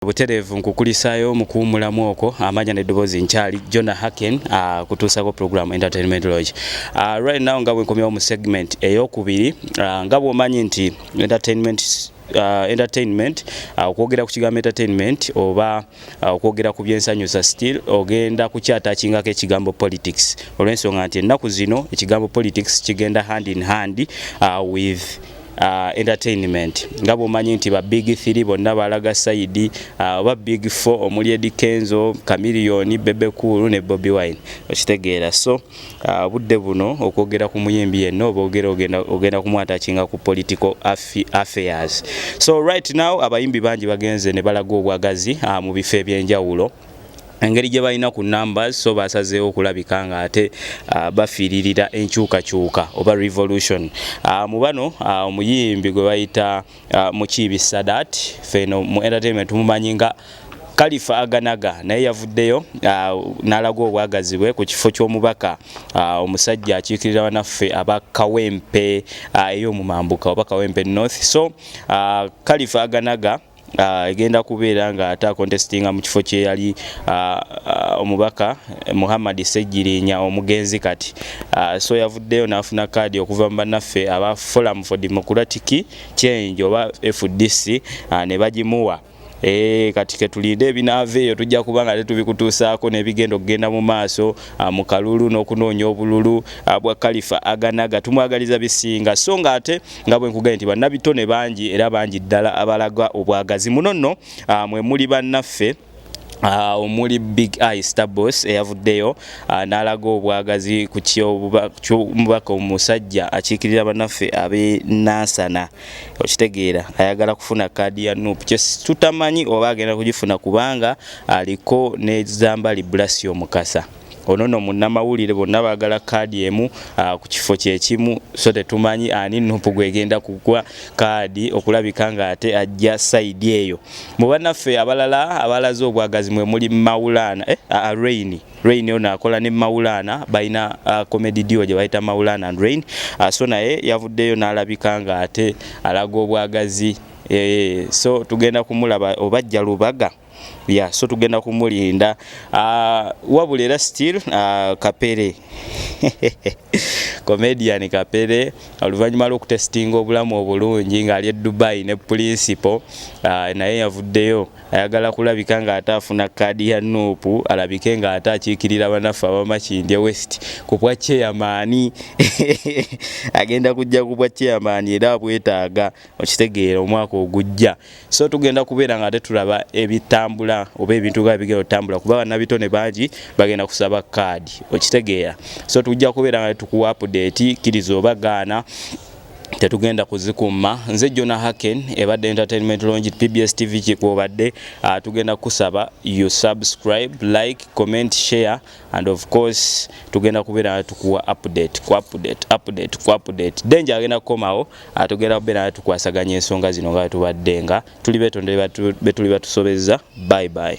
butereevu nkukulisaayo mu kuwumulamu okwo amanya neddoboozi nkyali jona haken uh, ah, kutuusako program entertainment lodge uh, right now nga bwenkomyawo mu segment eyokubiri uh, nga bwomanyi nti entertainment uh, entertainment uh, okwogera ku kigambo entertainment oba uh, okwogera ku byensanyusa still ogenda kukyatakingako ekigambo politics olwensonga nti ennaku zino ekigambo politics kigenda hand in hand uh, with uh, entertainment nga bwomanyi nti ba big 3 bonna balaga saidi uh, oba big 4 omuli edi kenzo kamiliyoni bebe kuulu ne bobi wine okitegeera so uh, budde uh, buno okwogera ku muyimbi yenna oba ogera ogenda, ogenda kumwatakinga ku political affairs so right now abayimbi bangi bagenze ne balaga obwagazi uh, mu bifo ebyenjawulo engeri gye balina ku numbers so basazeewo okulabika nga ate uh, bafiiririra enkyukakyuka oba revolution uh, mu bano uh, omuyimbi gwe bayita uh, mukiibi sadat feno mu entertainment tumumanyi nga kalifa aganaga naye yavuddeyo uh, n'alaga obwagazi bwe ku kifo ky'omubaka uh, omusajja akiikirira banaffe aba kawempe uh, ey'omumambuka oba kawempe north so uh, kalifa aganaga Ah, egenda kubeera nga ate akontestinga mu kifo kyeyali ah, ah, omubaka eh, Muhammad Ssegirinya omugenzi kati so yavuddeyo n'afuna kaadi okuva mu bannaffe aba Forum for Democratic Change oba FDC ne bagimuwa Eee eh, kati ketulinde ebinaava eyo tujja kuba nga tetubikutuusaako nebigenda okugenda mu maaso ah, mu kalulu n'okunoonya obululu ah, bwa kalifa aganaga tumwagaliza bisinga so nga ate nga bwe nkugambye nti bannabitone bangi era bangi ddala abalaga obwagazi muno nno ah, mwe muli bannaffe Uh, omuli big eye stabos eyavuddeyo uh, n'alaga obwagazi ku kyomubaka omusajja akiikirira banaffe ab'e nansana okitegeera ayagala kufuna kaadi ya nup kyetutamanyi oba agenda kugifuna kubanga aliko nezambali bulasi omukasa ono no munnamawulire bonna baagala kaadi emu ah, ku kifo kyekimu so tetumanyi ani nupu gwegenda kugwa kaadi okulabika nga ate ajja saidi eyo mu banaffe abalala abalaze obwagazi mwe muli mawulaana eh, ah, ah, raini rain ono akola ne mawulaana balina comedy dio gye bayita mawulaana and rain so naye yavuddeyo n'alabika nga ate alaga obwagazi eh, so tugenda kumulaba obajja lubaga yeah, so tugenda kumulinda uh, wabula era still uh, kapere comedian kapere oluvannyuma lwokutestinga obulamu obulungi ng'ali e dubai ne principal uh, naye yavuddeyo ayagala kulabika ng'ate afuna kaadi ya nuupu alabike ng'ate akiikirira banaffe abamakindye west ku bwa cheyamaani agenda kujja ku bwa cheyamaani era abwetaaga okitegeera omwaka ogujja so tugenda kubeera nga ate tulaba ebitambula oba ebintu ga bigenda otambula kuba banabitone bangi bagenda kusaba kaadi okitegeera so tujja kubeera nga tukuwa apudeti kiriza oba gaana tetugenda kuzikuuma nze jona haken ebadde entertainment longi pbs tv kikwobadde ah, tugenda kusaba you subscribe like comment share and of course tugenda kubeera tukuwa update ku update update ku update danger agenda kukomawo atugenda kubeera tukwasaganya ensonga zino nga tubadde nga tuli betondere betuli batusobezza bye bye